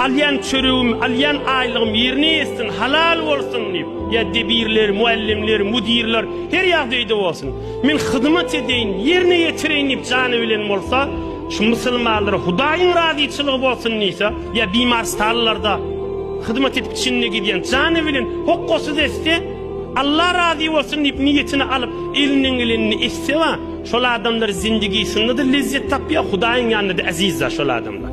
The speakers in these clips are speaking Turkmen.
Alýan çöregim, alýan aýlygym ýerine ýetsin, halal bolsun diýip, ýa debirler, mugallymlar, müdirler her ýagdaýda bolsun. Men hyzmat edeýin, ýerine ýetireýin diýip jany bilen bolsa, şu musulmanlara Hudaýyň razyçylygy bolsun diýse, ýa bimarstanlarda hyzmat edip içinde gidýän jany bilen hokgasyz etse, Allah razy bolsun diýip niýetini alyp, elinden gelenini etse, şol adamlar zindigisinde-de lezzet tapýar, Hudaýyň ýanynda-da eziz-de şol adamlar.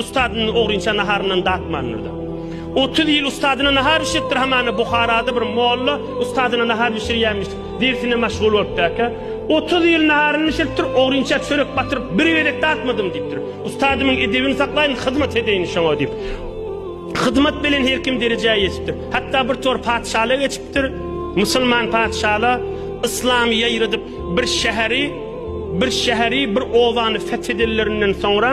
Ustadyny ogrynça naharyndan datmandyr-da. Otuz ýyl ustadyna nahar bişiripdir, hamana Buharada bir molla ustadyna nahar bişirýänmiş, dersine maşgul bolupdaka. Otuz ýyl naharyny bişiripdir, ogrynça çörek batyryp, bir gezek datmadym diýipdir. Ustadymyň edebini saklaýyn, hyzmat edeýin şoňa diýip. Hyzmat bilen her kim derejä ýetipdir. Hatda bir tor patyşalyk geçipdir. Musulman patyşalar yslamy ýaýradyp, bir şäheri, bir şäheri, bir obany fethedellerinden soňra,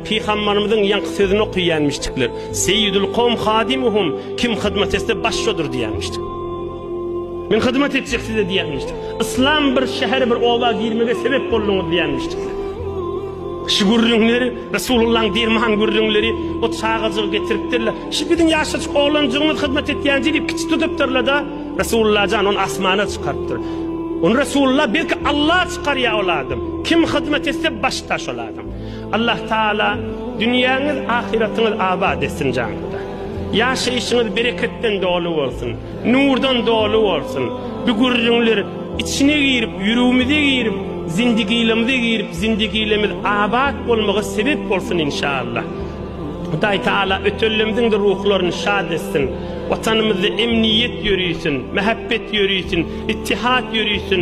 Pygambarymyzyň ýaňky sözüni okyýanmişdikler, Seýýidül kowm hadymuhum, kim hyzmat etse baş şodur diýýänmişdik. Men hyzmat etjek size diýýänmişdik. Yslam bir şähere bir oba girmege sebep bolduňyz diýýänmişdikler. Şu gürrüňler Resulullahyň derman gürrüňleri, o çagajygy getiripdirle, şu biziň ýaşajyk oglanjygymyz hyzmat etýänji diýip kiçi tutupdyrlada, Resulullajan ony asmana çykarypdyr. Ony Resulullah belki Allah çykarýa ol adam. Kim hyzmat etse başda şol adam. Allah Taala dünýäňiz ahyratyňyz abat etsin janyňda. Ýaşaýşyňyz bereketden doly bolsun, nurdan doly bolsun. Bu gürrüňler içine girip, ýüregimize girip, zindigilemize girip, zindigilemiz abat bolmaga sebep bolsun inşallah. Hudaý Taala ötenlemiziň-de ruhlaryny şad etsin. Watanymyzda emniýet ýörisin, mähebbet ýörisin, ittihat ýörisin.